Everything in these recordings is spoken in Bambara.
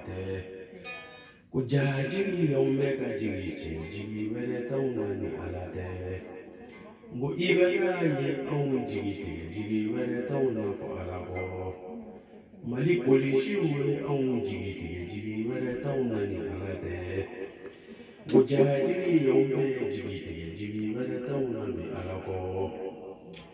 tɛ ko jajigi y'anw bɛɛ jigi tigɛ jigi wɛrɛ t'anw na ni ala tɛ n ko IBK ye anw jigi tigɛ jigi wɛrɛ t'anw na fɔ ala kɔ mali polisiw ye anw jigi tigɛ jigi wɛrɛ t'anw na ni ala tɛ ko jajigi y'anw bɛɛ jigi tigɛ jigi wɛrɛ t'anw na ni ala kɔ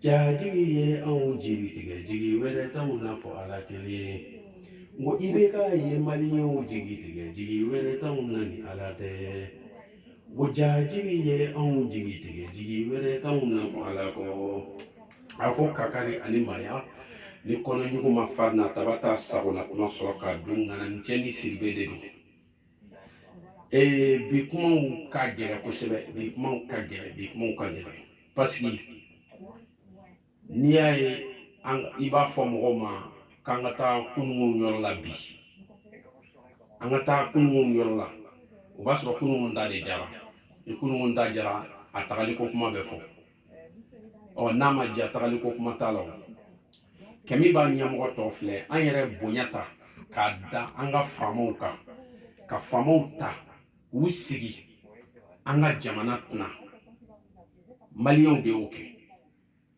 Jajigi ye anw jigi tigɛ jigi wɛrɛ t'anw na fɔ Ala kelen nko IBK ye maliyɛnw jigi tigɛ jigi wɛrɛ t'anw na ni Ala tɛ nko jajigi ye anw jigi tigɛ jigi wɛrɛ t'anw na fɔ Ala kɔ a ko kakari ani maaya ni kɔnɔɲugu ma farin na taba t'a sagona k'u na sɔrɔ ka dun ŋana cɛ ni siribe de don ee bi kumaw ka gɛlɛn kosɛbɛ bi kumaw ka gɛlɛn bi kumaw ka gɛlɛn parce que n'i y'a ye an i b'a fɔ mɔgɔw ma k'an ka taa kunun yɔrɔ la bi an ka taa kunun yɔrɔ la o b'a sɔrɔ kunun ta de diyara ni kunun ta diyara a tagali ko kuma bɛ fɔ ɔ n'a ma diya tagali ko kuma t'a la o kɛ min b'a ɲɛmɔgɔ tɔ filɛ an yɛrɛ bonya ta k'a da an ka faamaw kan ka faamaw ta k'u sigi an ka jamana kunna maliyɛnw de y'o kɛ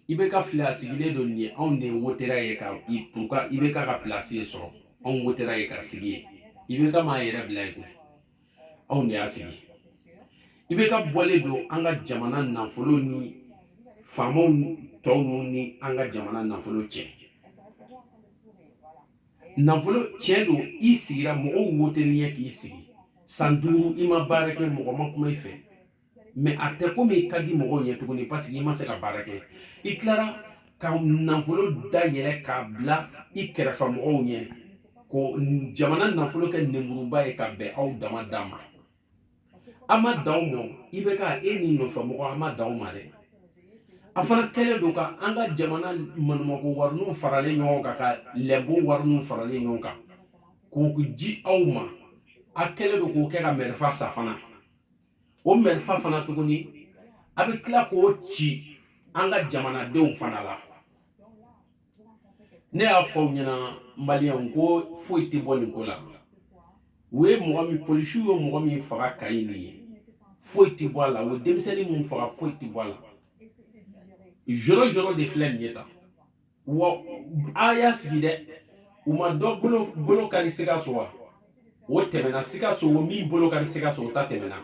IBK filɛ a sigilen don nin ye anw de wotera a ye ka pour que IBK ka pilasi sɔrɔ anw wotera a ye k'a sigi yen IBK ma a yɛrɛ bila yen koyi anw de y'a sigi IBK bɔlen don an ka jamana nafolo ni faamaw tɔw minnu ni an ka jamana nafolo tiɲɛ nafolo tiɲɛ don i sigira mɔgɔw wotelen i ye k'i sigi san duuru i ma baara kɛ mɔgɔ ma kuma i fɛ mɛ a tɛ komi i ka di mɔgɔw ɲɛ tuguni parce que i ma se ka baara kɛ i tilara ka nafolo da yɛlɛ k'a bila i kɛrɛfɛ mɔgɔw ɲɛ ko jamana nafolo kɛ nemuruba ye ka bɛn aw dama da ma an ma da aw ma IBK e n'i nɔfɛ mɔgɔw an ma da aw ma dɛ a fana kɛlen don ka an ka jamana manumako wariniw faralen ɲɔgɔn kan ka lɛnpo wariniw faralen ɲɔgɔn kan k'u di aw ma a kɛlen don k'o kɛ ka mɛrifa san fana o mɛrifa fana tuguni a bɛ tila k'o ci an ka jamanadenw fana la ne y'a fɔ aw ɲɛna maliyɛnw ko foyi tɛ bɔ nin ko la u ye mɔgɔ min polisiw ye mɔgɔ min faga Kayi nin ye foyi tɛ bɔ a la o denmisɛnnin min faga foyi tɛ bɔ a la jɔrɔ jɔrɔ de filɛ nin ye ta wa a y'a sigi dɛ u ma dɔ bolo kari sikaso wa o tɛmɛna sikaso o min bolo kari sikaso o ta tɛmɛna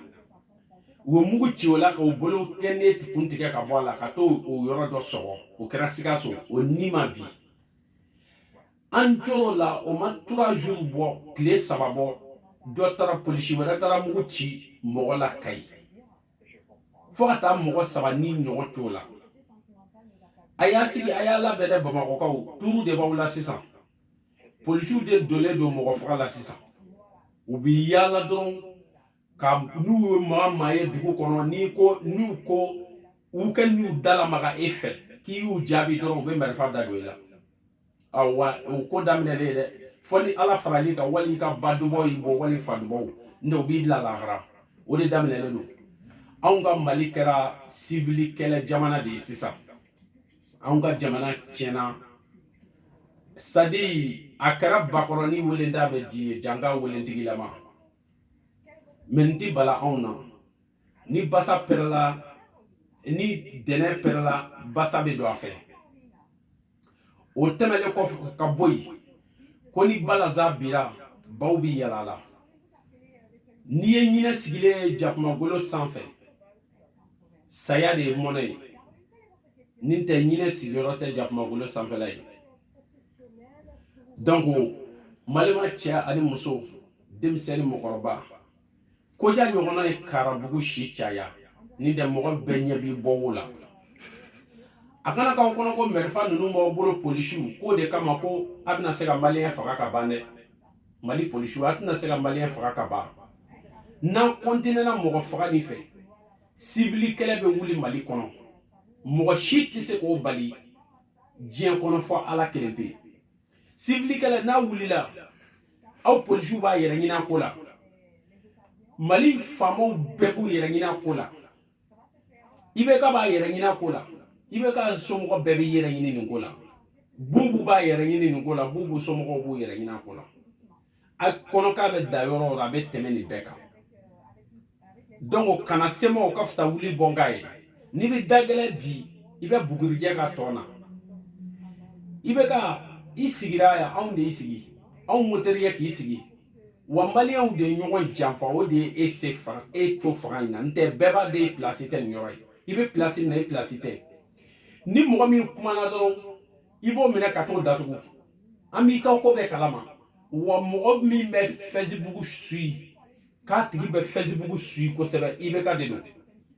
u ye mugu ci o la k'o bolo kelen kun tigɛ ka bɔ a la ka to o yɔrɔ dɔ sɔgɔ o kɛra sikaso o ni ma bi an jɔrɔ la o ma trois jours bɔ tile saba bɔ dɔ taara polisi wɛrɛ taara mugu ci mɔgɔ la kayi fo ka taa mɔgɔ saba ni ɲɔgɔn to la a y'a sigi a y'a labɛn dɛ bamakɔkaw tuuru de b'aw la sisan polisiw de donlen don mɔgɔ faga la sisan u bɛ yaala dɔrɔn ka n'u ye maa maa ye dugu kɔnɔ n'i ko n'u ko u ka n'u da lamaga e fɛ k'i y'u jaabi dɔrɔn u bɛ marifa da don i la awa o ko daminɛlen ye dɛ fɔ ni ala faral'i kan wali i ka ba dubaw y'i bɔ wali fa dubaw n t'o b'i bila lahara o de daminɛlen don anw ka mali kɛra sibili kɛlɛ jamana de ye sisan anw ka jamana tiɲɛna sadi a kɛra bakɔrɔni welenda bɛ ji ye janga welentigilama mɛ n ti bala anw na ni basa pɛrɛla ni dɛnɛ pɛrɛla basa bɛ don a fɛ o tɛmɛlen kɔfɛ ka bɔ yen ko ni balanzan bira baw bɛ yaala a la n'i ye ɲinɛ sigilen ye jakumagolo sanfɛ saya de ye mɔnɛ ye ni n tɛ ɲinɛ sigiyɔrɔ tɛ jakumagolo sanfɛla ye donc mali maa cɛ ani muso denmisɛnni mɔgɔkɔrɔba ko ja ɲɔgɔnna ye karabugu si caya ni tɛ mɔgɔ bɛɛ ɲɛ b'i bɔ wo la a kana k'aw kɔnɔ ko marifa ninnu b'aw bolo polisiw k'o de kama ko a bɛna se ka maliyɛn faga ka ban dɛ mali polisiw a tɛna se ka maliyɛn faga ka ban n'an kɔntinɛna mɔgɔ faga nin fɛ sibili kɛlɛ bɛ wuli mali kɔnɔ mɔgɔ si tɛ se k'o bali diɲɛ kɔnɔ fɔ ala kelen pe sibili kɛlɛ n'a wulila aw polisiw b'a yɛrɛ ɲin'a ko la mali faamaw bɛɛ b'u yɛrɛ ɲin'a ko la IBK b'a yɛrɛ ɲin'a ko la IBK somɔgɔ bɛɛ b'i yɛrɛ ɲini nin ko la bubu b'a yɛrɛ ɲini nin ko la bubu somɔgɔw b'u yɛrɛ ɲin'a ko la a kɔnɔ k'a bɛ da yɔrɔ o yɔrɔ a bɛ tɛmɛ nin bɛɛ kan donc kana se n ma o ka fisa wuli bɔ n kan ye n'i bɛ dagɛlɛ bi i bɛ bugurijɛ ka tɔn na IBK i sigira yan anw de y'i sigi anw woter'i ye k'i sigi wa maliyɛnw de ye ɲɔgɔn janfa o de ye e se fanga e co fanga in na n tɛ bɛɛ b'a dɔn e pilasi tɛ nin yɔrɔ ye i bɛ pilasi min na i pilasi tɛ ni mɔgɔ min kumana dɔrɔn i b'o minɛ ka t'o datugu an b'i ka ko bɛɛ kalama wa mɔgɔ min bɛ fɛsibugu sui k'a tigi bɛ fɛsibugu sui kosɛbɛ IBK de don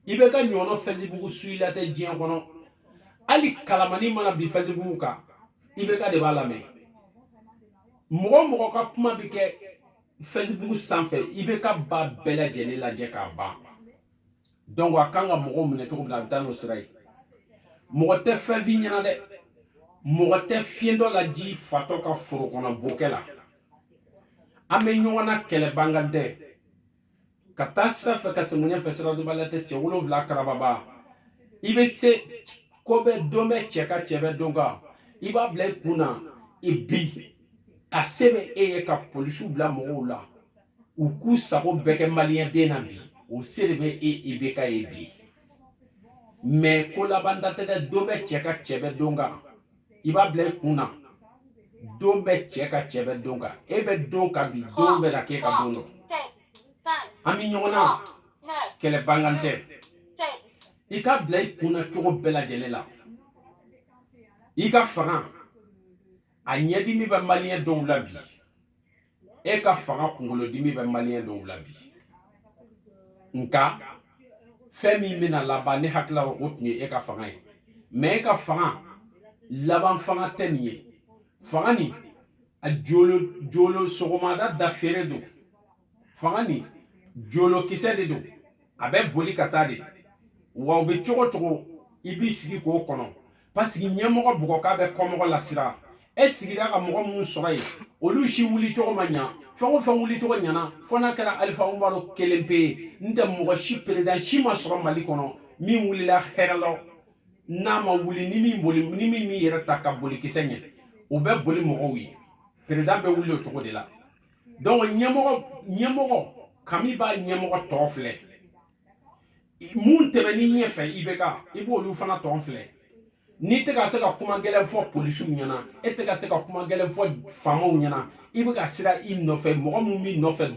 IBK ɲɔgɔnna fɛsibugu suila tɛ diɲɛ kɔnɔ hali kalamanin mana bin fɛsibugu kan IBK de b'a lamɛn mɔgɔ o mɔgɔ ka kuma bɛ kɛ fɛsibugu sanfɛ IBK b'a bɛɛ lajɛlen lajɛ k'a ban donc a kan ka mɔgɔw minɛ cogo min na a bɛ taa n'o sira ye mɔgɔ tɛ fɛn f'i ɲɛna dɛ mɔgɔ tɛ fiyentɔ laji fatɔ ka foro kɔnɔ bokɛ la an bɛ ɲɔgɔn na kɛlɛban kan tɛ ka taa sira fɛ ka segin ɲɛfɛ siradɔnbaliya tɛ cɛ wolonwula karababa i bɛ se ko bɛ don bɛ cɛ kan cɛ bɛ don kan i b'a bila i kun na i bi a se bɛ e ye ka polisiw bila mɔgɔw la u k'u sago bɛɛ kɛ maliyɛn den na bi o se de bɛ e IBK ye bi mais ko laban da tɛ dɛ don bɛ cɛ kan cɛ bɛ don kan i b'a bila i kun na don bɛ cɛ kan cɛ bɛ don kan e bɛ don kan bi don bɛ na k'e kan don dɔ an bɛ ɲɔgɔn na kɛlɛban kan tɛ i k'a bila i kun na cogo bɛɛ lajɛlen la i ka fanga a ɲɛdimi bɛ maliyɛn dɔw la bi e ka fanga kunkolodimi bɛ maliyɛn dɔw la bi nka fɛn min bɛna laban ne hakili la o tun ye e ka fanga ye mais e ka fanga laban fanga tɛ nin ye fanga nin a jolo sɔgɔmada da feere don fanga nin jolokisɛ de don a bɛ boli ka taa de wa o bɛ cogo o cogo i b'i sigi k'o kɔnɔ parce que ɲɛmɔgɔ bugɔkan bɛ kɔmɔgɔ lasiran e sigira ka mɔgɔ minnu sɔrɔ yen olu si wulicogo ma ɲa fɛn o fɛn wulicogo ɲana fo n'a kɛra alifa umaru kelen pe ye n tɛ mɔgɔ si peredan si ma sɔrɔ mali kɔnɔ min wulila hɛrɛ la n'a ma wuli ni min m'i yɛrɛ ta ka boli kisɛ ɲɛ o bɛ boli mɔgɔw ye peredan bɛ wuli o cogo de la donc ɲɛmɔgɔ kami b'a ɲɛmɔgɔ tɔn filɛ minnu tɛmɛn'i ɲɛfɛ IBK i b'olu fana tɔn filɛ n'i tɛ ka se ka kuma gɛlɛn fɔ polisiw ɲɛna e tɛ ka se ka kuma gɛlɛn fɔ faamaw ɲɛna i bɛ ka siran i nɔfɛ mɔgɔ min b'i nɔfɛ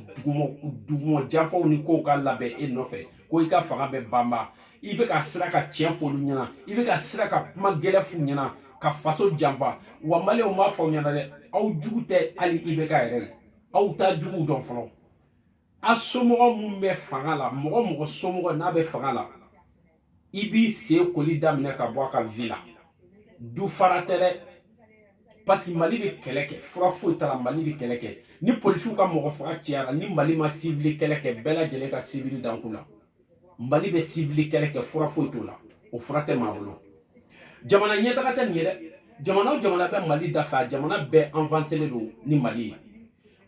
duguma janfaw ni kow ka labɛn e nɔfɛ ko i ka fanga bɛ banba i bɛ ka siran ka tiɲɛ fɔ olu ɲɛna i bɛ ka siran ka kuma gɛlɛn f'u ɲɛna ka faso janfa wa maliyɛnw b'a fɔ aw ɲɛna dɛ aw jugu tɛ hali IBK yɛrɛ ye aw t'aw juguw dɔn fɔlɔ a somɔgɔ minnu bɛ fanga la mɔgɔ o mɔgɔ somɔgɔ n'a bɛ fanga la i b'i sen koli daminɛ ka bɔ a ka vi la du fara tɛ dɛ parce que mali bɛ kɛlɛ kɛ fura foyi t'a la mali bɛ kɛlɛ kɛ ni polisiw ka mɔgɔ faga cayara ni mali ma sivili kɛlɛ kɛ bɛɛ lajɛlen ka sivili danku la mali bɛ sivili kɛlɛ kɛ fura foyi t'o la o fura tɛ maa bolo jamana ɲɛtaga tɛ nin ye dɛ jamana o jamana bɛ mali dafɛ a jamana bɛɛ anvanselen don ni mali ye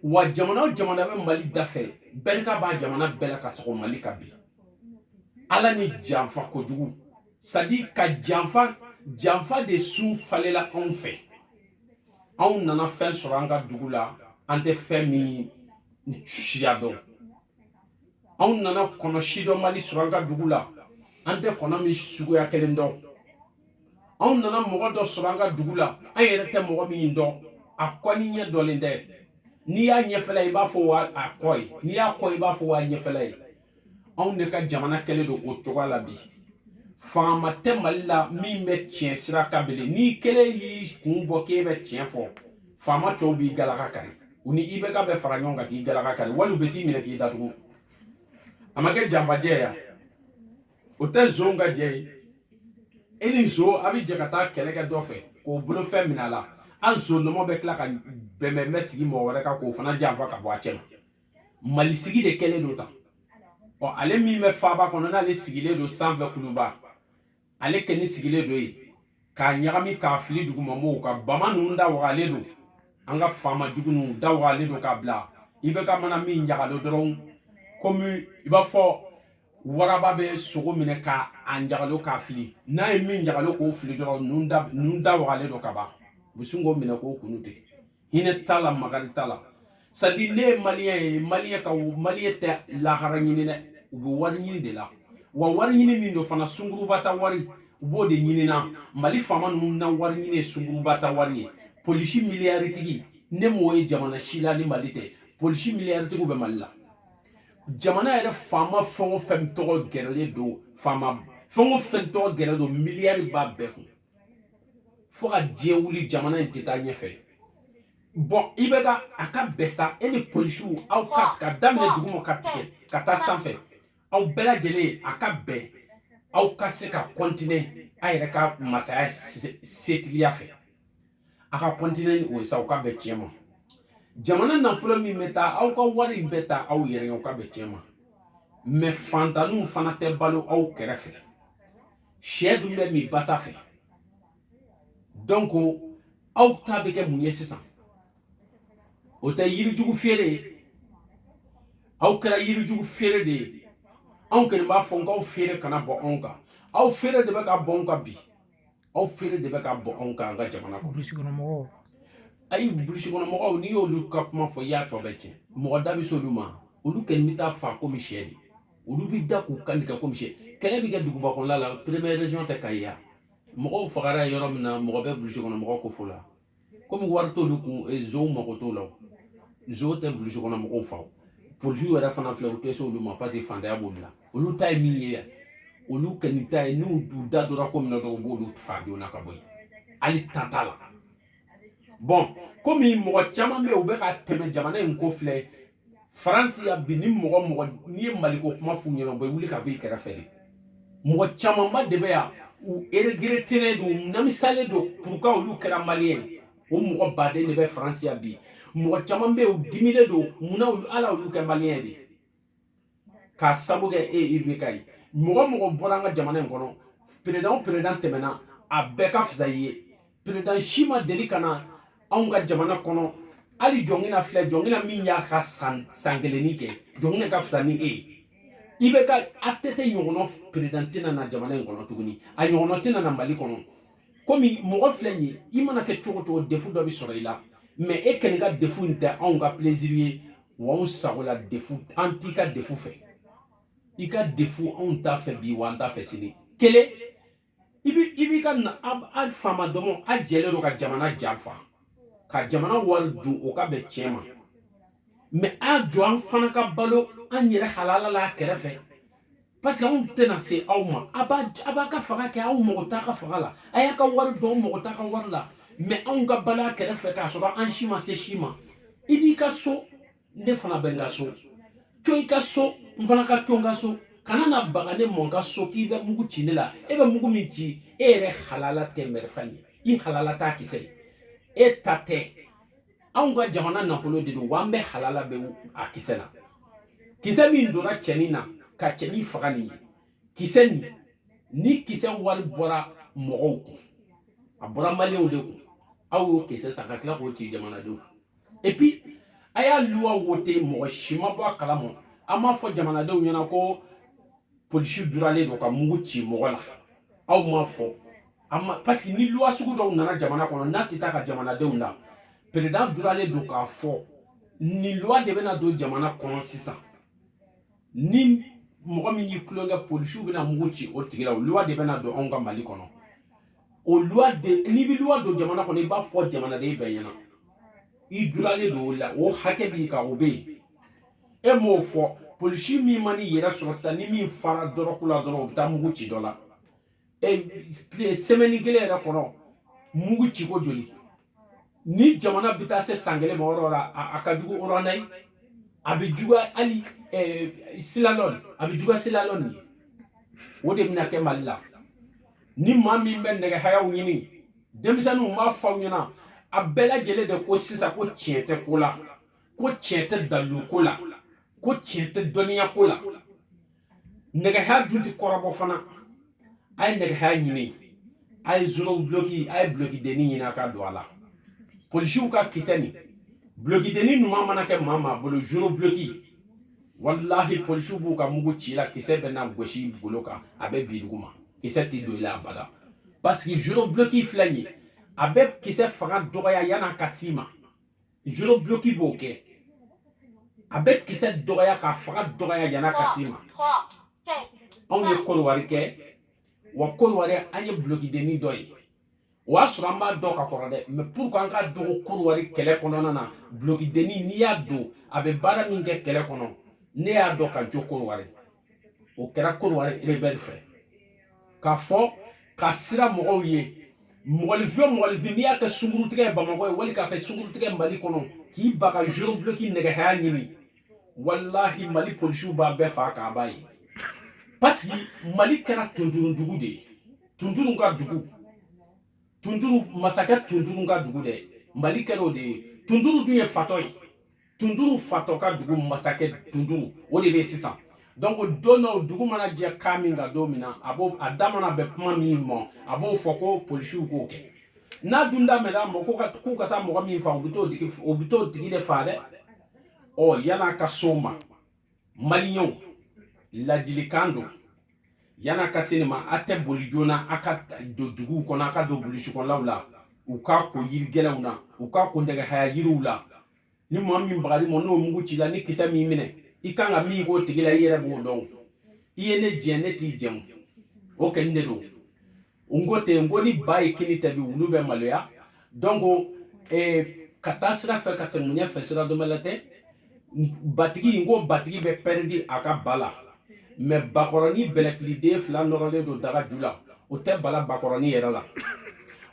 wa jamana o jamana bɛ mali dafɛ barika b'a jamana bɛɛ la ka sɔgɔ mali ka bi ala ni janfa kojugu c'est-à-dire ka janfa janfa de sun falela anw fɛ anw nana fɛn sɔrɔ an ka dugu la an tɛ fɛn min siya dɔn anw nana kɔnɔ sidɔnbali sɔrɔ an ka dugu la an tɛ kɔnɔ min suguya kelen dɔn anw nana mɔgɔ dɔ sɔrɔ an ka dugu la an yɛrɛ tɛ mɔgɔ min dɔn a kɔ ni ɲɛ dɔlen tɛ n'i y'a ɲɛfɛla ye i b'a fɔ a kɔ ye n'i y'a kɔ ye i b'a fɔ a ɲɛfɛla ye anw de ka jamana kɛlen don o cogoya la bi faama tɛ mali la min bɛ tiɲɛ sira kan bilen n'i kelen y'i kun bɔ k'e bɛ tiɲɛ fɔ faama tɔw b'i galaka kari u ni IBK bɛ fara ɲɔgɔn kan k'i galaka kari wali u bɛ t'i minɛ k'i datugu a ma kɛ janfajɛ ya o tɛ zon ka jɛ ye e ni zon a bɛ jɛ ka taa kɛlɛ kɛ dɔ fɛ k'o bolofɛn minɛ a la an zonnɔmɔ bɛ tila ka bɛnbɛn sigi mɔgɔ wɛrɛ kan k'o fana janfa ka bɔ a cɛ ma mali sigi de kɛlen don tan ɔ ale min bɛ faaba kɔnɔ n'ale sigilen don sanfɛ kuluba ale kɛni sigilen don yen k'a ɲagami k'a fili dugumamɔgɔw kan bama ninnu da wagalen don an ka faama jugu ninnu da wagalen don k'a bila IBK mana min ɲagalo dɔrɔn komi i b'a fɔ waraba bɛ sogo minɛ k'a ɲagalo k'a fili n'a ye min ɲagalo k'o fili dɔrɔn da wagalen don kaban u bɛ sin k'o minɛ k'o kun tigɛ hinɛ t'a la makari t'a la c'est-à-dire ne ye maliyɛn ye maliyɛn ka maliyɛn tɛ lahara ɲini dɛ u bɛ wari ɲini de la wa wari ɲini min don fana sunguruba ta wari u b'o de ɲini na mali faama ninnu na wari ɲini ye sunguruba ta wari ye polisi miliyaritigi ne m'o ye jamana si la ni mali tɛ polisi miliyaritigi bɛ mali la jamana yɛrɛ faama fɛn o fɛn tɔgɔ gɛrɛlen don faama fɛn o fɛn tɔgɔ gɛrɛlen don miliyari b'a bɛɛ kun fo ka diɲɛ wuli jamana in tɛ taa ɲɛfɛ bon IBK a ka bɛn sa e ni polisiw aw k'a daminɛ duguma ka tigɛ ka taa sanfɛ aw bɛɛ lajɛlen a ka bɛn aw ka se ka kɔntine a yɛrɛ ka masaya setigiya fɛ a ka kɔntine ni o ye sa o ka bɛn tiɲɛ ma jamana nafolo min bɛ taa aw ka wari in bɛ taa aw yɛrɛ o ka bɛn tiɲɛ ma mɛ fantanniw fana tɛ balo aw kɛrɛfɛ sɛ dun bɛ min basa fɛ donc aw ta bɛ kɛ mun ye sisan o tɛ yirijugu feere ye aw kɛra yirijugu feere de ye anw kɔni b'a fɔ n k'aw feere kana bɔ anw kan aw feere de bɛ ka bɔ anw kan bi aw feere de bɛ ka bɔ anw kan an ka jamana kɔnɔ burusi kɔnɔ mɔgɔw ayi burusi kɔnɔ mɔgɔw n'i y'olu ka kuma fɔ i y'a tɔ bɛɛ tiɲɛ mɔgɔ da bɛ se olu ma olu kɛni bɛ taa fa komi sɛ de olu bɛ da k'u kan tigɛ komi sɛ kɛlɛ bɛ kɛ duguba kɔnɔla la première région tɛ kayi ya mɔgɔw fagara yɔrɔ min na mɔgɔ bɛ burusi kɔnɔ mɔgɔw ko fɔ la komi wari t'olu kun e, zow mago t'o la zow tɛ bulusi kɔnɔ mɔgɔw fa polisiw yɛrɛ fana filɛ u tɛ se olu ma parce que fantanya b'olu la olu ta ye min ye yan olu kɛni ta ye n'u da donna ko min na dɔrɔn u b'olu fa joona ka bɔ yen hali ta t'a la bɔn komi mɔgɔ caman bɛ yen u bɛ ka tɛmɛ jamana in ko filɛ faransi yan bi ni mɔgɔ mɔgɔ n'i ye maliko kuma f'u ɲɛna u bɛ wuli ka bɔ i kɛrɛfɛ de mɔgɔ camanba de bɛ yan u eregretelen don u nimisalen don puruka olu kɛra maliyɛn ye o mɔgɔ baden de bɛ faransi yan bi mɔgɔ caman bɛ yen u dimilen don munna ala olu kɛ maliyɛn de ye k'a sabu kɛ e IBK ye mɔgɔ o mɔgɔ bɔra an ka jamana in kɔnɔ peredan o peredan tɛmɛna a bɛɛ ka fisa i ye peredan si ma deli ka na anw ka jamana kɔnɔ hali jɔnkina filɛ jɔnkina min y'a ka san kelennin kɛ jɔnkina ka fisa ni e ye IBK ATT ɲɔgɔnɔ peredan tɛna na jamana in kɔnɔ tuguni a ɲɔgɔnɔ tɛna na mali kɔnɔ komi mɔgɔ filɛ nin ye i mana kɛ cogo cogo defu dɔ bɛ sɔrɔ i la mɛ e kɛni ka defu in tɛ anw ka plaisir ye wa anw sagola defu an t'i ka defu fɛ i ka defu anw t'a fɛ bi wa an t'a fɛ sini kelen i bi i b'i ka na a faama dɔmɔ a jɛlen don ka jamana janfa ka jamana wari dun o ka bɛn tiɲɛ ma mɛ a to an fana ka balo an yɛrɛ halala la a kɛrɛfɛ parce que anw tɛna se aw ma a b'a ka fanga kɛ anw mago t'a ka fanga la a y'a ka wari dun an mago t'a ka wari la mɛ anw ka balo a kɛrɛfɛ k'a sɔrɔ an si ma se si ma i b'i ka so ne fana bɛ n ka so to i ka so n fana ka to n ka so kana na baga ne ma n ka so k'i bɛ mugu ci ne la e bɛ mugu min ci e yɛrɛ halala tɛ marifa ye i halala t'a kisɛ ye e ta tɛ anw ka jamana nafolo de don wa an bɛɛ halala bɛ a kisɛ la kisɛ min donna cɛnin na ka cɛnin faga nin ye kisɛ nin ni kisɛ wari bɔra mɔgɔw kun a bɔra maliyɛnw de kun aw y'o kisɛ san ka tila k'o ci jamanadenw et puis a y'a luwa wote mɔgɔ si ma bɔ a kalama an m'a fɔ jamanadenw ɲɛna ko polisi duralen don ka mugu ci mɔgɔ la aw m'a fɔ parce que ni luwa sugu dɔw nana jamana kɔnɔ n'a tɛ taa ka jamanadenw la président duralen don k'a fɔ nin luwa de bɛna don jamana kɔnɔ sisan ni mɔgɔ min y'i tulonkɛ polisiw bɛna mugu ci o tigi la o luwa de bɛna don anw ka mali kɔnɔ o luwa de n'i bɛ luwa don jamana kɔnɔ i b'a fɔ jamanaden bɛɛ ɲɛna i duralen don o la o hakɛ b'i kan o bɛ yen e m'o fɔ polisi min man'i yɛrɛ sɔrɔ sisan ni min fara dɔrɔgu la dɔrɔn o bɛ taa mugu ci dɔ la semaine kelen yɛrɛ kɔnɔ mugu ciko joli ni jamana bɛ taa se san kelen ma yɔrɔ la a ka jugu ruwanda ye a bɛ juguya hali silalɔn a bɛ juguya silalɔn ye o de bɛna kɛ mali la ni maa min bɛ nɛgɛhayaw ɲini denmisɛnninw n b'a fɔ aw ɲɛna a bɛɛ lajɛlen de ko sisan ko tiɲɛ tɛ ko la ko tiɲɛ tɛ daliluko la ko tiɲɛ tɛ dɔnniyako la nɛgɛhaya dun tɛ kɔrɔbɔ fana a ye nɛgɛhaya ɲini a ye zoro buloki a ye bulokidenni ɲini a k'a don a la polisiw ka kisɛ ni bulokidenni ɲuman mana kɛ maa maa bolo zoro buloki walahi polisiw b'u ka mugu c'i la kisɛ bɛna gosi golo kan a bɛ bin dugu ma kisɛ tɛ don i la abada parce que zoro buloki filɛ nin ye a bɛ kisɛ fanga dɔgɔya yan'a ka s'i ma zoro bloki b'o kɛ a bɛ kisɛ dɔgɔya k'a fanga dɔgɔya yan'a ka s'i ma anw ye kodiwari kɛ wa kodiwari an ye blokidenni dɔ ye o y'a sɔrɔ an b'a dɔn ka kɔrɔ dɛ mais pour que an k'a dɔn ko kodiwari kɛlɛ kɔnɔna na blokidenni n'i y'a don a bɛ baara min kɛ kɛlɛ kɔnɔ ne y'a dɔn ka jo kodiwari o kɛra kodiwari rebɛli frère k'a fɔ ka siran mɔgɔw ye mɔgɔlifɛn mɔgɔlifɛn n'i y'a kɛ sungurutigɛ ye bamakɔ yen wali k'a kɛ sungurutigɛ mali kɔnɔ k'i ban ka zoro buloki nɛgɛhaya ɲini walahi mali polisiw b'a bɛɛ faa k'a ba ye parce que mali kɛra tunduru dugu de ye tunduru ka dugu tunduru masakɛ tunduru ka dugu dɛ mali kɛra o de ye tunduru dun ye fatɔ ye tunduru fatɔ ka dugu masakɛ tunduru o de bɛ sisan donc don dɔw dugu mana jɛ ka min ka don min na a b'o a da mana bɛn kuma min ma a b'o fɔ ko polisiw k'o kɛ n'a dun da bɛnna mɔgɔ kan k'u ka taa mɔgɔ min faa u bɛ t'o tigi u bɛ t'o tigi de faa dɛ ɔ yan'a ka s'o ma maliyɛnw ladilikan don yan'a ka se nin ma a tɛ boli joona a ka don duguw kɔnɔ a ka don burusi kɔnɔlaw la u k'a ko yiri gɛlɛnw na u k'a ko nɛgɛhaya yiriw la ni maa min bagar'i ma n'o mugu c'i la ni kisɛ m'i minɛ i kan ka min k'o tigi la i yɛrɛ b'o dɔn i ye ne jɛ ne t'i jɛ o kɛnɛ de don n ko ten n ko ni ba ye kinni ta bi wulu bɛ maloya donc eh, ka taa sira fɛ ka segin ɲan fɛ sira dɔnbali tɛ batigi n ko batigi bɛ pɛridi a ka ba la mɛ bakɔrɔnin bɛlɛkiliden fila nɔrɔlen don daga ju la o tɛ bala bakɔrɔnin yɛrɛ la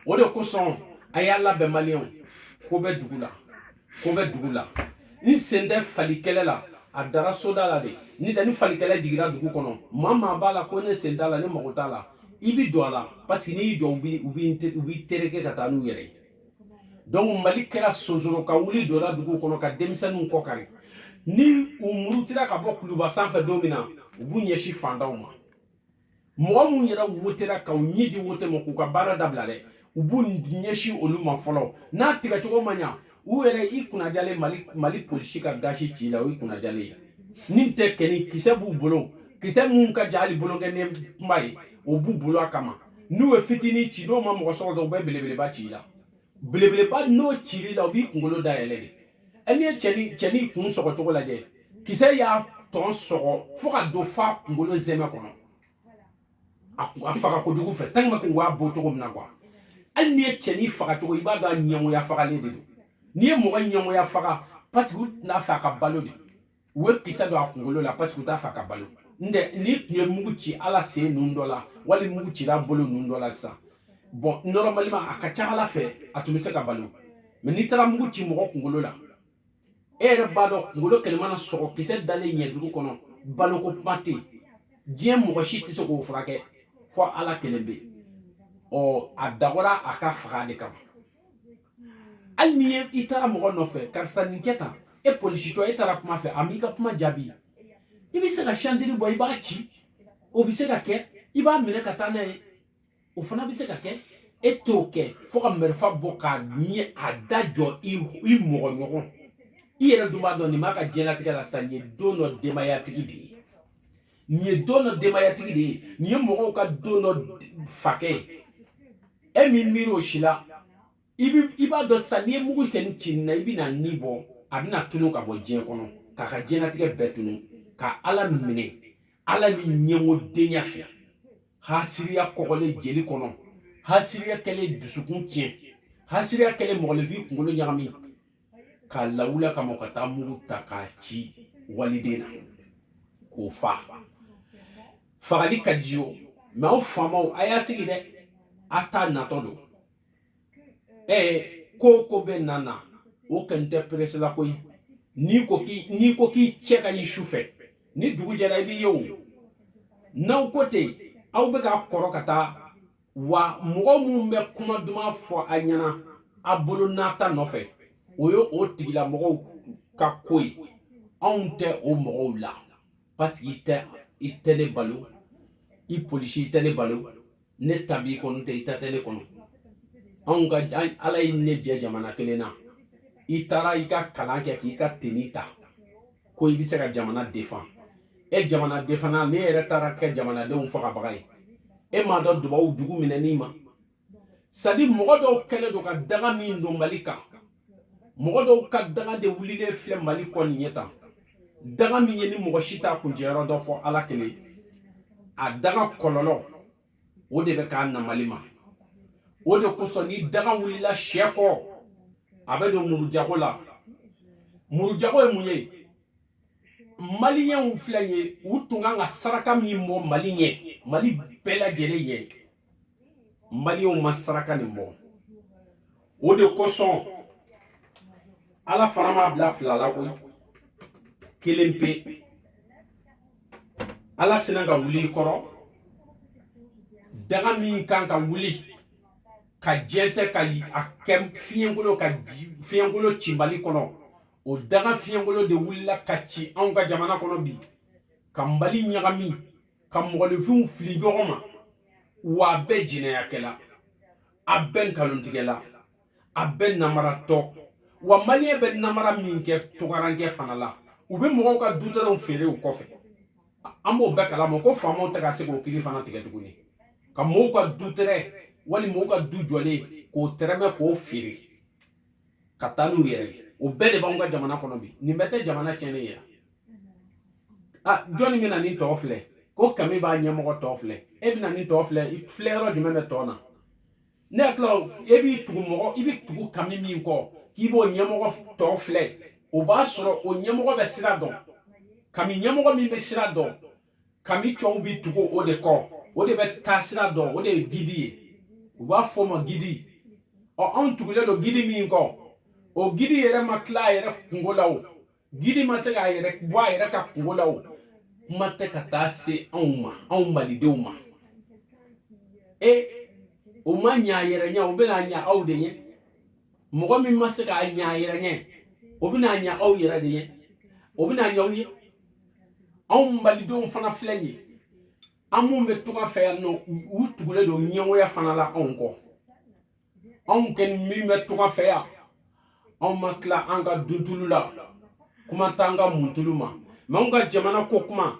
o de kosɔn a y'a labɛn maliyɛnw ko bɛ dugu la ko bɛ dugu la n sen tɛ fali kɛlɛ la a dara soda la de ni tɛ ni fali kɛlɛ jigira dugu kɔnɔ maa maa b'a la ko ne sen t'a la ne mago t'a la i bi don a la parce que n'i y'i jɔ u b'i tereke ka taa n'u yɛrɛ ye dɔnku mali kɛra sonsoro ka wuli donna dugu kɔnɔ ka denmisɛnninw kɔ kari ni u murutira ka bɔ kuluba sanfɛ don min na u b'u ɲɛsin fantanw ma mɔgɔ minnu yɛrɛ wotera ka u ɲɛ di wote ma k'u ka baara dabila dɛ u b'u ɲɛsin olu ma fɔlɔ n'a tigɛcogo ma ɲa u yɛrɛ i kunnajalen mali mali polisi ka gazi ci i la o y'i kunnajalen ye ni tɛ kɔni kisɛ b'u bolo kisɛ minnu ka jan ni bolonkɔnin kunba ye o b'u bolo a kama n'u ye fitinin ci n'o ma mɔgɔ sɔrɔ dɔrɔn u bɛ belebeleba ci i la belebeleba n'o cil'i la o b'i kunkolo da yɛlɛ de ɛ n'i ye cɛni cɛni kun sɔgɔ cogo lajɛ kisɛ y'a tɔn sɔgɔ fo ka don f'a kunkolo sɛmɛ kɔnɔ a kun- a faga kojugu fɛ tɛlima k'u b'a bɔ cogo min na kuwa hali n'i ye cɛni faga cogo i b'a dɔn a ɲɛngoya fagalen de don n'i ye mɔgɔ ɲɛngoya faga paseke u tun t'a fɛ a ka balo de u ye kisɛ don a kunkolo la parce que u t'a fɛ a ka balo ntɛ n'i tun ye mugu ci a la sen ninnu dɔ la wali mugu cira bolo ninnu dɔ la sisan bɔn normalement a ka ca ala fɛ a tun bɛ se ka balo mɛ n'i taara mugu ci mɔgɔ kunkolo la e yɛrɛ b'a dɔn kunkolo kelen mana sɔgɔ kisɛ dalen ɲɛ duuru kɔnɔ baloko kuma tɛ yen diɲɛ mɔgɔ si tɛ se k'o furakɛ fo ala kelenpe ɔ a dabɔra a ka faga de kama hali n'i ye i taara mɔgɔ nɔfɛ karisa nin kɛ tan e polisicɛ e taara kuma fɛ a m'i ka kuma jaabi i bɛ se ka santiri bɔ i b'a ci o bɛ se ka kɛ i b'a minɛ ka taa n'a ye o fana bɛ se ka kɛ e t'o kɛ fo ka marifa bɔ k'a ɲɛ a da jɔ i mɔgɔ ɲɔgɔn i yɛrɛ dun b'a dɔn nin b'a ka diɲɛlatigɛ la sa nin ye don dɔ denbayatigi de ye nin ye don dɔ denbayatigi de ye nin ye mɔgɔw ka don dɔ fakɛ ye e m'i miiri o si la i b'a dɔn sisan n'i ye mugu kɛnɛ ci nin na i bɛn'a ni bɔ a bɛna tunu ka bɔ diɲɛ kɔnɔ k'a ka diɲɛlatigɛ bɛɛ tunu ka ala minɛ a la ni ɲɛngo denya fɛ hasiriya kɔgɔlen jeli kɔnɔ hasiriya kɛlen dusukun tiɲɛ hasiriya kɛlen mɔgɔninfin kunkolo ɲagami k'a lawuli a kama ka taa mugu ta k'a ci waliden na k'o fa fagali ka di o mɛ aw faamaw a y'a sigi dɛ a ta natɔ don ɛɛ ko o ko bɛ na na o kɔni tɛ perese la koyi n'i ko k'i n'i ko k'i cɛ ka ɲi su fɛ ni dugu jɛra i b'i ye o n'aw ko ten aw bɛ ka kɔrɔ ka taa wa mɔgɔ minnu bɛ kuma duman fɔ a ɲɛna a bolo nata nɔfɛ o ye o tigilamɔgɔw ka ko ye anw tɛ o mɔgɔw la parce que i tɛ i tɛ ne balo i polisi i tɛ ne balo ne ta b'i kɔnɔ tɛ i ta tɛ ne kɔnɔ nka ala ye ne jɛ jamana kelen na i taara i ka kalan kɛ k'i ka teni ta ko i bɛ se ka jamana defan e jamana defana n'e yɛrɛ taara kɛ jamanadenw fagabaga ye e m'a dɔn dubaw jugu minɛni ma sadi mɔgɔ dɔw kɛlen don ka danga min don mali kan mɔgɔ dɔw ka danga de wulilen filɛ mali kɔ nin ye tan danga min ye nin mɔgɔ si t'a kuncɛyɔrɔ dɔn fo ala kelen a danga kɔlɔlɔ o de bɛ ka na mali ma o de kosɔn ni danga wulila cɛ kɔ a bɛ don murujago la murujago ye mun ye maliyɛnw filɛ ye u tun kan ka saraka min bɔ mali ɲɛ mali bɛɛ lajɛlen ɲɛ maliyɛnw ma saraka nin bɔ o de kosɔn ala fana m'a bila fila la koyi kelen pe ala sinna ka wuli i kɔrɔ danga min kan ka wuli ka jɛnsɛ ka a kɛ fiɲɛkolo ka fiɲɛkolo ci mali kɔnɔ o danga fiɲɛkolo de wulila ka ci anw ka jamana kɔnɔ bi ka mali ɲagami ka mɔgɔninfinw fili ɲɔgɔn ma wa a bɛɛ jinɛyakɛla a bɛɛ nkalontigɛla a bɛɛ namaratɔ wa maliyɛn bɛ namara min kɛ tungarankɛ fana la u bɛ mɔgɔw ka dutɛrɛnw feere u kɔfɛ an b'o bɛɛ kalama ko faamaw tɛ ka se k'o kiri fana tigɛ tuguni ka mɔgɔw ka dutɛrɛn wali mɔgɔw ka du jɔlen k'o tɛrɛmɛ k'o feere ka taa n'u yɛrɛ ye o bɛɛ de b'anw ka jamana kɔnɔ bi nin bɛɛ tɛ jamana tiɲɛnen ye ah jɔnni bɛna nin tɔn filɛ ko kami b'a ɲɛmɔgɔ tɔn filɛ e bɛna nin tɔn filɛ filɛ yɔrɔ jumɛn bɛ tɔn na ne hakili la e b'i tugu mɔgɔ i bɛ tugu kami min kɔ k'i b'o ɲɛmɔgɔ tɔn filɛ o b'a sɔrɔ o ɲɛmɔgɔ bɛ sira dɔn kami ɲɛmɔgɔ min bɛ sira dɔn kami tɔw bɛ tugu o de kɔ o de bɛ taa sira dɔn o de ye gidi ye u b'a fɔ o ma gidi ɔ anw tugulen don gidi min kɔ o gidi yɛrɛ ma tila a yɛrɛ kunko la o gidi ma se k'a yɛrɛ bɔ a yɛrɛ ka kunko la o kuma tɛ ka taa se anw ma anw malidenw ma e o ma ɲa a yɛrɛ ɲɛ o bɛna ɲa aw de ye mɔgɔ min ma se k'a ɲa a yɛrɛ ɲɛ o bɛna ɲa aw yɛrɛ de ye o bɛna ɲa aw ye anw malidenw fana filɛ nin ye an minnu bɛ tunga fɛ yan nɔ u tugulen don ɲɛngoya fana la anw kɔ anw kɛ min bɛ tunga fɛ yan anw ma tila an ka duntulu la kuma t'an ka muntulu ma mɛ anw ka jamana ko kuma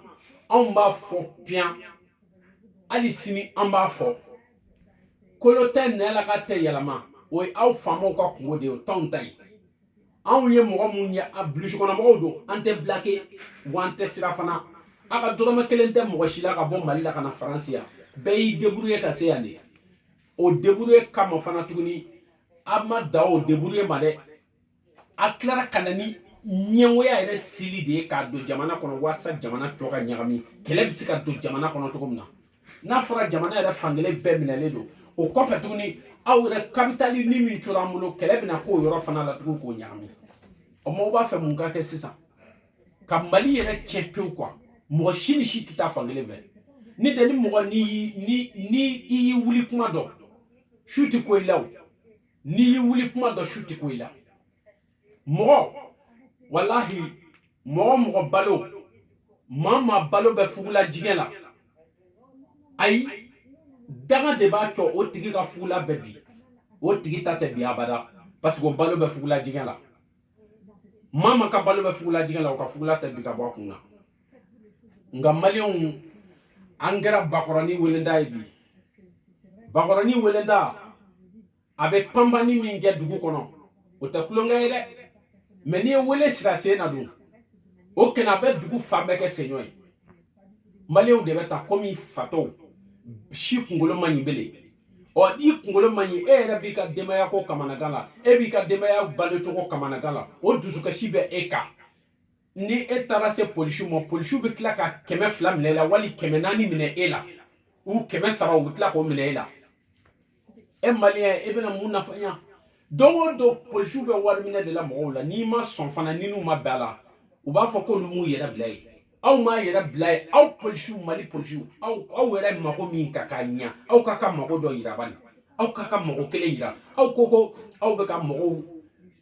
anw b'a fɔ piyan hali sini an b'a fɔ kolo tɛ nɛn na k'a tɛ yɛlɛma o ye aw faamaw ka kungo de ye o t'anw ta ye anw ye mɔgɔ minnu ye a burusikɔnɔmɔgɔw don an tɛ bilake wa an tɛ siran fana a ka dɔrɔmɛ kelen tɛ mɔgɔ si la ka bɔ mali la ka na faransi yan bɛɛ y'i deburuye ka se yan de o debrouiller kama fana tuguni a ma dan o debrouiller ma dɛ a tilara ka na ni ɲɛngoya yɛrɛ sili de ye k'a don jamana kɔnɔ walasa jamana tɔ ka ɲagami kɛlɛ bɛ se ka don jamana kɔnɔ cogo min na n'a fɔra jamana yɛrɛ fan kelen bɛɛ minɛlen don o kɔfɛ tuguni aw yɛrɛ kapitalini min cora an bolo kɛlɛ bɛna k'o yɔrɔ fana la tugun k'o ɲagami o maaw b'a fɛ mun ka kɛ sisan ka mali yɛrɛ tiɲɛ pewu quoi mɔgɔ si ni si tɛ taa fan kelen fɛ ne tɛ ni mɔgɔ ni ni ni i y'i wuli kuma dɔn su tɛ ko i la o n'i y'i wuli kuma dɔn su tɛ ko i la mɔgɔ walahi mɔgɔ mɔgɔ balo maa maa balo bɛ fugula jigɛ la ayi danga de b'a cɔ o tigi ka fugula bɛ bin o tigi ta tɛ bin abada parce que o balo bɛ fugula jigɛ la maa ma ka balo bɛ fugula jigɛ la o ka fugula tɛ bin ka bɔ a kun na nka maliyɛnw an kɛra bakɔrɔni welentan ye bi bakɔrɔni welentan a bɛ panpanni min kɛ dugu kɔnɔ o tɛ tulonkɛ ye dɛ mɛ n'i ye welen siri a sen na dun o kɛnɛ a bɛ dugu fan bɛɛ kɛ senyɔ ye maliyɛnw de bɛ taa komi fatɔw si kunkolo man ɲi bele ɔ i kunkolo man ɲi e yɛrɛ b'i ka denbayako kamanagan la e b'i ka denbaya balocogo kamanagan la o dusukasi bɛ e kan ni e taara se polisiw ma polisiw bɛ tila ka kɛmɛ fila minɛ e la wali kɛmɛ naani minɛ e la ou kɛmɛ saba u bɛ tila k'o minɛ e la e maliyɛn e bɛna mun nafa ɲa don o don polisiw bɛ wari minɛ de la mɔgɔw la n'i ma sɔn fana ni n'u ma bɛn a la u b'a fɔ k'olu m'u yɛrɛ bila yen aw m'a yɛrɛ bila yen aw polisiw mali polisiw aw aw yɛrɛ mago min ka k'a ɲa aw ka ka mago dɔ yira bani aw ka ka mago kelen yira aw ko ko aw bɛ ka mɔgɔw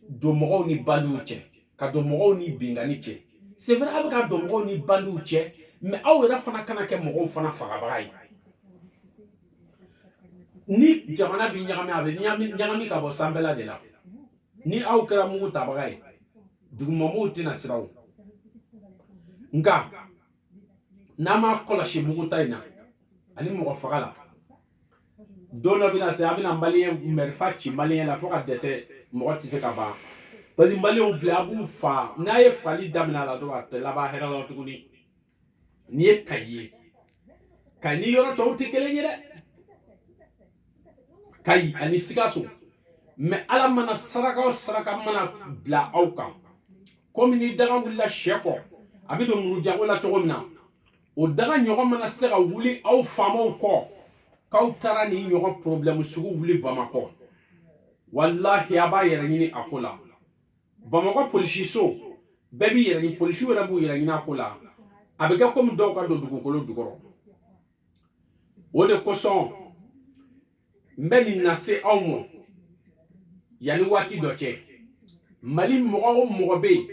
don mɔgɔw ni bandiw cɛ ka don mɔgɔw ni binkanni cɛ c'est vrai aw bɛ ka don mɔgɔw ni bandiw cɛ mais aw yɛrɛ fana kana kɛ mɔgɔw fana fagabaga ye ni jamana bɛ ɲagami a bɛ ɲagami ka bɔ sanfɛla de la ni aw kɛra mugu tabaga ye dugumamɔgɔw tɛna siran nka n'a m'a kɔlɔsi mugu ta in na ani mɔgɔ faga la don dɔ bɛna se a bɛna maliyɛn marifa ci maliyɛn la fo ka dɛsɛ mɔgɔ tɛ se ka ban parce que maliyɛnw filɛ a b'u fa n'a ye fali daminɛ a la dɔrɔn a tɛ laban hɛrɛ la tuguni n'i ye kayi ye kayi ni yɔrɔ tɔw tɛ kelen ye dɛ kayi ani sikaso mɛ ala mana saraka o saraka mana bila aw kan komi ni daga wulila sɛ kɔ a bɛ don murujago la cogo min na o daga ɲɔgɔn mana se ka wuli aw faamaw kɔ k'aw taara nin ɲɔgɔn porobilɛmu sugu wuli bamakɔ walahi a b'a yɛrɛ ɲini a ko la bamakɔ polisiso bɛɛ b'i yɛrɛ polisiw yɛrɛ b'u yɛrɛ ɲini a ko la a bɛ kɛ komi dɔw ka don dugukolo jukɔrɔ o de kosɔn n bɛ nin lase aw ma yanni waati dɔ cɛ mali mɔgɔ o mɔgɔ bɛ yen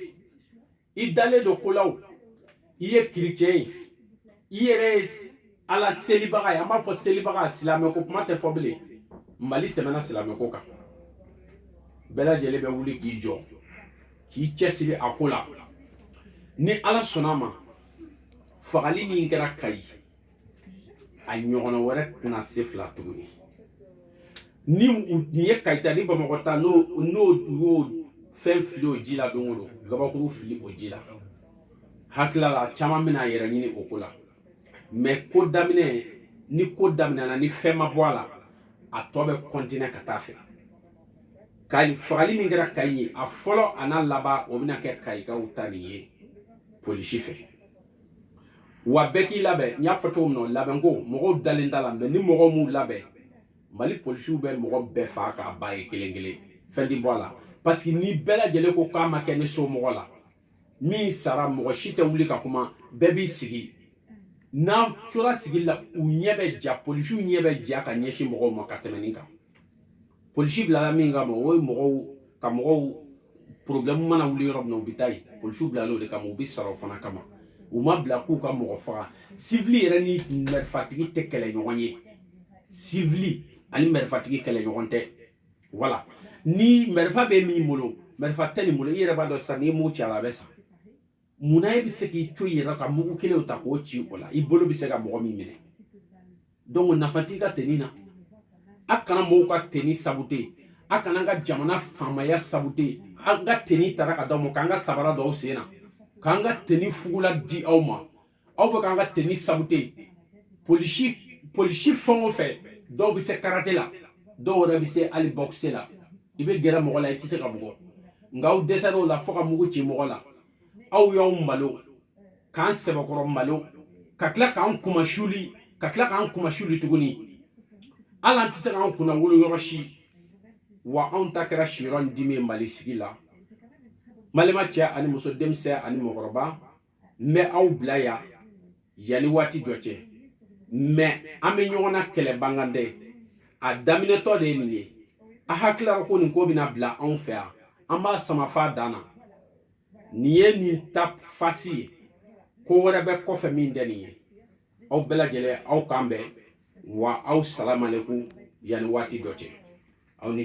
i dalen don ko la o i ye kerecɛn ye i yɛrɛ ye ala selibaga ye an b'a fɔ selibaga silamɛ ko kuma tɛ fɔ bilen mali tɛmɛna silamɛ ko kan bɛɛ lajɛlen bɛ wuli k'i jɔ k'i cɛsiri a ko la ni ala sɔnna a ma fagali min kɛra kayi a ɲɔgɔnna wɛrɛ tɛna se fila tuguni nin ye kayi ta ni bamakɔ ta n'o y'o fɛn fili o ji la don o don gabakuru fili o ji la hakilila la caman bɛna a yɛrɛ ɲini o ko la mɛ ko daminɛ ni ko daminɛna ni fɛn ma bɔ a la a tɔ bɛ kɔntinɛ ka taa fɛ kayi fagali min kɛra kayi ye a fɔlɔ an'a laban o bɛna kɛ kayikaw ta nin ye polisi fɛ wa bɛɛ k'i labɛn n y'a fɔ cogo min na labɛnko mɔgɔw dalen t'a la mɛ ni mɔgɔw m'u labɛn mali polisiw bɛ mɔgɔ bɛɛ faa k'a ban ye kelen kelen fɛn ti bɔ a la parce que ni bɛɛ lajɛlen ko k'a ma kɛ ni somɔgɔ la min sara mɔgɔ si tɛ wuli ka kuma bɛɛ b'i sigi n'a tora sigi la u ɲɛ bɛ ja polisiw ɲɛ bɛ ja ka ɲɛsin mɔgɔw ma ka tɛmɛ nin kan polisi bilala min kama o ye mɔgɔw ka mɔgɔw problɛmu mana wuli yɔrɔ min na u bɛ taa yen polisiw bilala o de kama u bɛ sara o fana kama u ma bila k'u ka mɔgɔ faga sivili yɛrɛ ni mɛrifatigi tɛ kɛlɛ ɲɔgɔn ye sivili ani mɛrifatigi kɛlɛ ɲɔgɔn tɛ wala ni mɛrifa bɛ min bolo mɛrifa tɛ nin bolo i yɛrɛ b'a dɔn sisan n'i ye mugu ci a la a bɛ sa Munna e bɛ se k'i to yɛrɛ ka mugu kelen ta k'o ci o la i bolo bɛ se ka mɔgɔ min minɛ donc nafa t'i ka teni na a kana mɔgɔw ka teni sabute a kana an ka jamana faamaya sabute an ka teni tara ka d'aw ma k'an ka sabara don aw sen na k'an ka teni fugula di aw ma aw bɛ k'an ka teni sabute polisi fɛn o fɛn dɔw bɛ se karate la dɔw yɛrɛ bɛ se hali boxe la i bɛ gɛrɛ mɔgɔ la i tɛ se k'a bugɔ nka aw dɛsɛra o la fo ka mugu ci mɔgɔ la aw y'aw malo k'an sɛbɛkɔrɔ malo ka tila k'an kunmasuli tuguni hali an tɛ se k'an kunnawolo yɔrɔ si wa anw ta kɛra siyɔrɔ ni dimi ye mali sigi la mali ma cɛ ani muso denmisɛn ani mɔgɔkɔrɔba n bɛ aw bila yan yanni waati dɔ cɛ mɛ an bɛ ɲɔgɔn na kɛlɛ ban kan tɛ a daminɛtɔ de ye nin ye a hakili la ko nin ko bɛna bila anw fɛ yan an b'a sama f'a dan na nin ye nin ta fasi ye ko wɛrɛ bɛ kɔfɛ min tɛ nin ye aw bɛɛ lajɛlen aw k'an bɛn wa aw salamaleku yanni waati dɔ cɛ aw ni